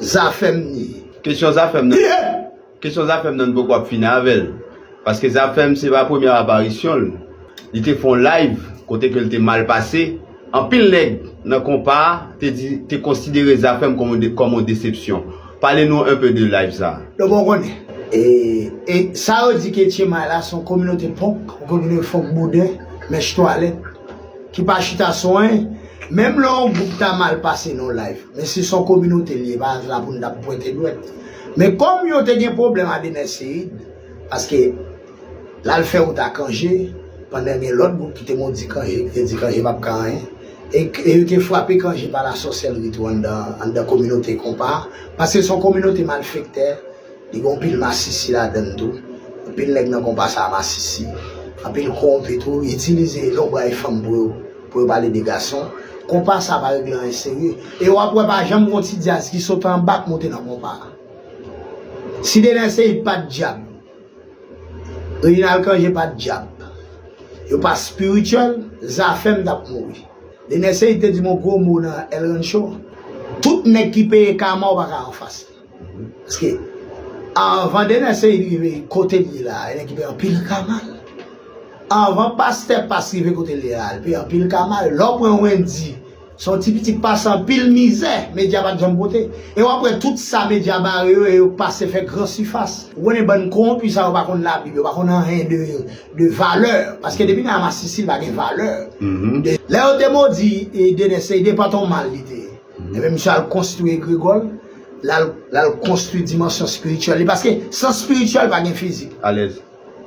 Zafem ni. Kesyon zafem nan Kesyon zafem nan nou poko ap fini avel paske zafem se pa premye aparisyon l li te fon live kote ke l te mal pase anpil neg nan konpa te di te konsidere zafem kòm yon desepsyon pale nou un peu de live sa. Nou pa konnen. E sa yo di ke Tchema la son kominote ponk ou konprann yo fonk bouden, mèch twalèt. ki pa chita sou anyen, menm lè yon gwoup ta mal pase nan yon layv, men si se yon kominote li ye, e pa la pou nou t ap pwente dwèt. Men kòm yo te gen pwoblèm a Dener Ceïd, paske l al fè wout a Cangé, pandan gen lòt gwoup ki te modi Cangé, ki te di Cangé p ap ka anyen, e yo te frape Cangé pa lasòsèlri tou anndan kominote konpa a, paske se yon kominote malfektè. Li gen yon pil masisi ladann tou. Anpil nèg nan konpa sa masisi. Anpil kowonpi tou. Yo itilize lonbray fanm pou yo pou yo pale de gason. Konpa sa pa regle anyen serye. E wap wè pa janm gon ti dyaz ki sot anba k moute nan konpa a. Si Dener Ceïde pat dyab. Reginald Cangé pat dyab. Yo pa spirituel, Zafèm tap mouri. Dener Ceïde te di m yon gwo mo nan El Rancho. Tout nèg ki peye kama w pa ka anfas li. Paske anvan Dener Ceïde rive kote li ye la, li te gen anpil ka mal. Anvan Pastè Pas rive kote li ye la, li te gen anpil ka mal. Lè w pran Wendy, se yon ti pitit pase anpil mizè medya pa t janm pote. E w ap wè tout sa medya bare yo e yo pase fè gran sifas. Ou konnen bann kowonpi sa yo pa konn labib, yo pa konn anyen de valè. Paske depi nan masisi li pa gen valè. Lè yo te modi Dener Ceïde, pantan w mal li te ye. Ebyen misye al konstwi egregò l, l al konstwi dimansyon spirityèl li, paske san spirityèl pa gen fizik. Alèz.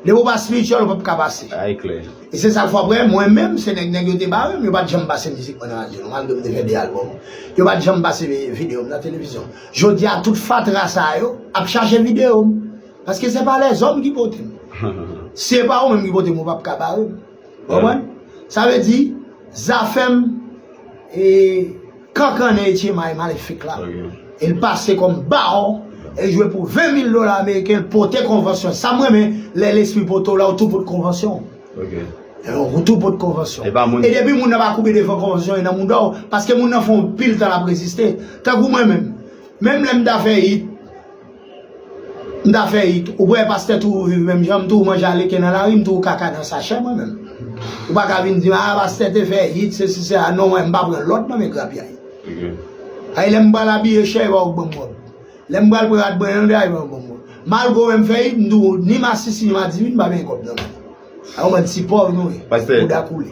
Depi w pa spirityèl ou pap ka pase. A e klè. E se sa l fè w apre, mwen menm se nèg nèg yo te bare m, yo pat janm pase mizik mwen nan radyo non, malgre m te fè 2 albòm. Yo pat janm pase videyo m nan televizyon. Jodi a tout fatra sa yo ap chache videyo m, paske se pa lèzòm ki pote m. Si e pa ou menm ki pote m ou pap ka bare m. Konprann? Sa vle di, zafèm e kankannen Etchemay malefik la, e l pase kòm bawon, e l jwe pou 20 mil dola ameriken, l pote konvansyon. Sa m renmen, lè lespri pote w la, ou tou pot konvansyon w. Alò, ou tou pot konvansyon w. E depi moun nan pa koube devan konvansyon e nan mouda w, paske moun nan fè yon pil tan l ap reziste. Tankou mwen menm, menm lè m ta fè it, M ta fè it ou kwè pastè tou ou viv menm janm tou ou manje aleken nan lari m tou ou kaka nan sachè mwen menm ou pa ka vin dim a pastè te fè it se si se la non mwen m pa pran lòd nan men grapyay ay lèm pral abiye chè epa ou k banm wòb lèm pral pran rad mwen yon day epa ou banm wòb malgre ou wè m fè it m tou ni masisi ni madivin m pa benyen kòb nan men a yon bann ti pòv nou ye bouda koule.